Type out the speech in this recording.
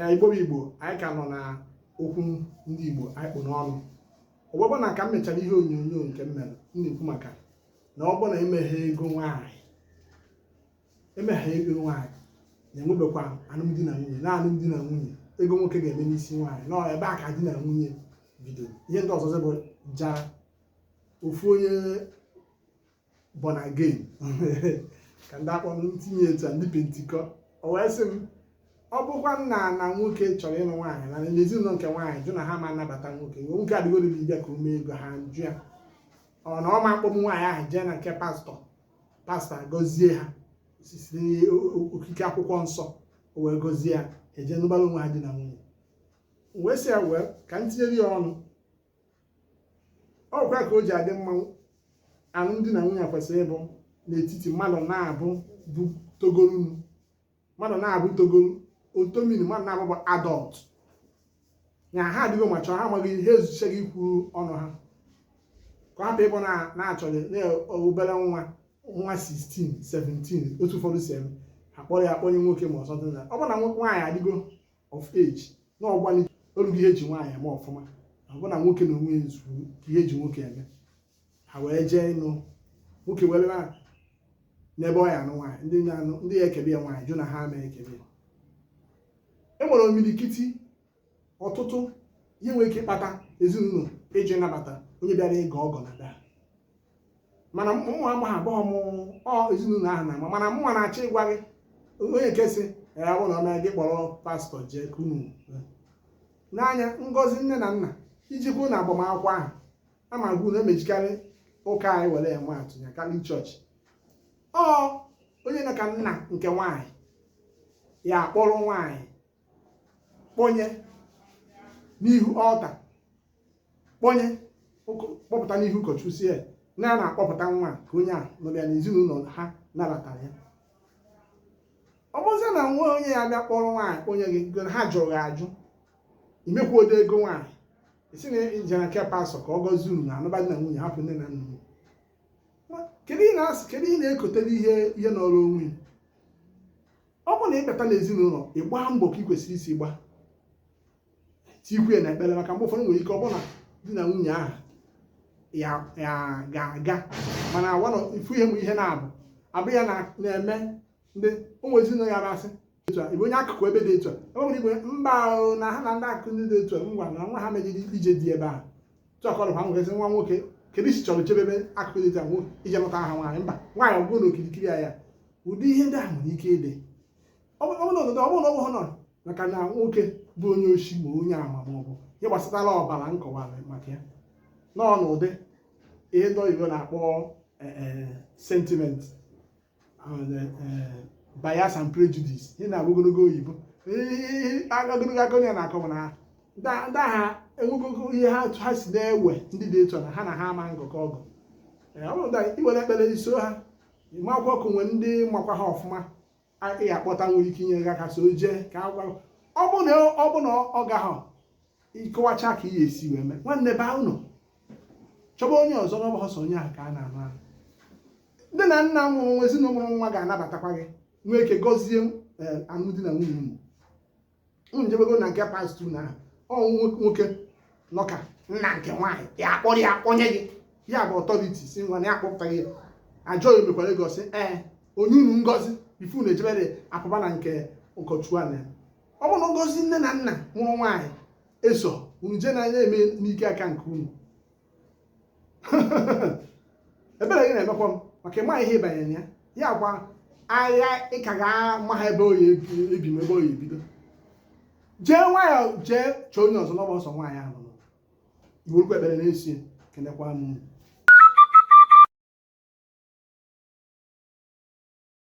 ee igbo bụ igbo anyị ka nọ na okwu ndị igbo anyị kpụ n'ọnụ ụbụbọ na ka m mechara ihe onyonyo nke m mere m na-ekwu maka na ọ bụrụ na emeghe ego nwaanyị emeghe ego nwaanyị na-enwebekwa alụmdi na nwunye na alụmdi na nwunye ego nwoke ga-eme n'isi nwaanyị na ọ ebe a ka di na nwunye bidoro ihe ndị ọzọzọ bụ jara ofu onye born again ka ndị akpọ ntinye etu a ndị pentikọ o wee sị m ọ bụkwanụ na nwoke chọrọ ịlụ nwaanyị na n'ezinụlọ nke nwaanyị jụ na ha ama anabata nwoke nwoke adịgo ready bịa ka o mee ego ha jụ ya ọ na ọ ma akpọ nwaanyị ahụ jee na nke pastọ pastọ agọzie ha site n'okike akwụkwọ nsọ o wee gọzie ya eje nụbara onwe ha di na nwunye wee sị ya wee ka m tinyere ya ọnụ ọ kwa ka o ji adị mma alụmdi na nwunye kwesịrị ịbụ n'etiti mmadụ naabọ bụ togorunu mmadụ naabọ togoro otomini mmadụ naabọ bụ adult na ha adịgo mature ha amago ihe ezuchago ikwuru ọnụ ha ka hapụ ịbụ na-achọghị na obere nwa nwa 16 17 otu ụfọdụ si eme akpọrọ ya akpọnye nwoke ma ọsọ dị na ọ bụ na nwaanyị adịgo of age na ọgbalị orugo ihe eji nwaanyị eme ọfụma ọ bụ na nwoke na onwe zuru ihe eji nwoke eme ha wee jee ịnụ nwoke were na n'ebe ọ ya anụ nwaanyị ndị na-anụ ndị ya ekebe ya nwaanyị jụ na ha ama ekebe ya e nwere imirikiti ọtụtụ ihe nwere ike ịkpata ezinụlọ ịjụ ịnabata onye bịara ịgọ ọgọ n'ada ha mana mụnwa amaghị ọ bụghị m ọ ezinụlọ ahụ na-ama mana mụnwa na-achọ ịgwa gị onye nke si ya bụ na ọ na gị kpọrọ pastọ jee kunu n'anya ngọzi nne na nna iji kwuo na agbamakwụkwọ ahụ ama gwu na emejikarị ụka anyị were ya maa atụ ya catholic church ọ onye na ka nna nke nwaanyị ya akpọrọ nwaanyị kpọnye n'ihu altar kpọnye kpọpụta n'ihu ụkọchukwu sị ya na a na-akpọpụta nwa ka onye a nụrụ ya na ezinụlọ ha nabatara ya ọ bụzie na nwa onye a bịa kpọrọ nwaanyị onye gị gị ha jụrụ gị ajụ imekwuodo ego nwaanyị ị sị na i jere nke pastọ ka ọ gọzie unu na anụba di na nwunye hapụ nne na nna unu kedu ị na-asị kedu ị na-ekotere ihe ihe n'ọrụ onwe ọ bụrụ na ị bata n'ezinụlọ ị gbaa mbọ ka ị kwesịrị isi gbaa tikwe na ekpere maka mgbe ụfọdụ nwere ike ọ bụrụ na di na nwunye ahụ ya ga-aga mana agwanụ ifu ihe m ihe na-abụ abụ ya na-eme ndị ụmụ ezinụlọ ya na-asị etu a onye akụkụ ebe dị etu a ebe nwere igwe mba ahụ na ha na ndị akụkụ ndị dị etu a ngwa na nwa ha mejiri ije di ebe ahụ tụ akọrọ ha nwoke nwa nwoke kedu i si chọrọ jebe ebe akụkụ dị etu a ije lụta aha nwaanyị mba nwaanyị ọ bụrụ na okirikiri ya ụdị ihe ndị ahụ nwere ike ịdị ọ bụrụ na ọnọdụ ọ bụrụ na ọ bụghị nọrọ maka na nwoke bụ onye oshi ma onye ama ma ọ bụ ihe gbasatara ọbara m kọwara maka ya nọ n'ụdị ihe ndị oyibo na-akpọ eh, eh, sentiment and, eh, eh, bias and prejudice ihe na ogologo oyibo Ihe- ihe- ogologo aka onye na-akọwa na ndị a- ndị agha enwegogo ihe ha ha si na-ewe ndị dị etu a na ha na ha ama ngụkọ ọgụ Ee, ọ bụrụ na i were ekpere iso ha ị makwa okwu nwee ndị makwa ha ọfụma ị ga-akpọta nwere ike inye gị aka so jee ka agwa ọ bụ na ọ bụ na ọ gaghị ịkọwacha ka ihe si wee mee nwanne baa ụlọ chọba onye ọzọ na ọ bụghị sọ onye ahụ ka a na-anụ ahụ nne na nna mụrụ nwa ezinụlọ mụrụ nwa ga-anabatakwa gị nwee ike gọzie eh, alụmdi na nwunye unu unu jebego na nke pastọ na ọ bụ nwoke nọ ka nna nke nwaanyị ya akpọrọ ya akpọnye gị ya bụ authority sị ngwa na ya akpọpụtaghị ya ajọ ya mekwara ego sị ee o nye unu ngọzi before unu ejebere apụba na nke ụkọchukwu a na ọ bụrụ na ngọzi nne na nna mụrụ nwaanyị eso unu jee na-eme n'ike aka nke unu ebere gị na-emekwa m maka ị ma ihe ị banyere ya ya kwa agha ị ka ga-ama ha ebe ọ ya-ebi ma ebe ọ ya-ebido jee nwayọ jee chọọ onye ọzọ na ọ bụghị sọ nwaanyị ahụ nọ i werekwa ekpere na-esi kenekwa m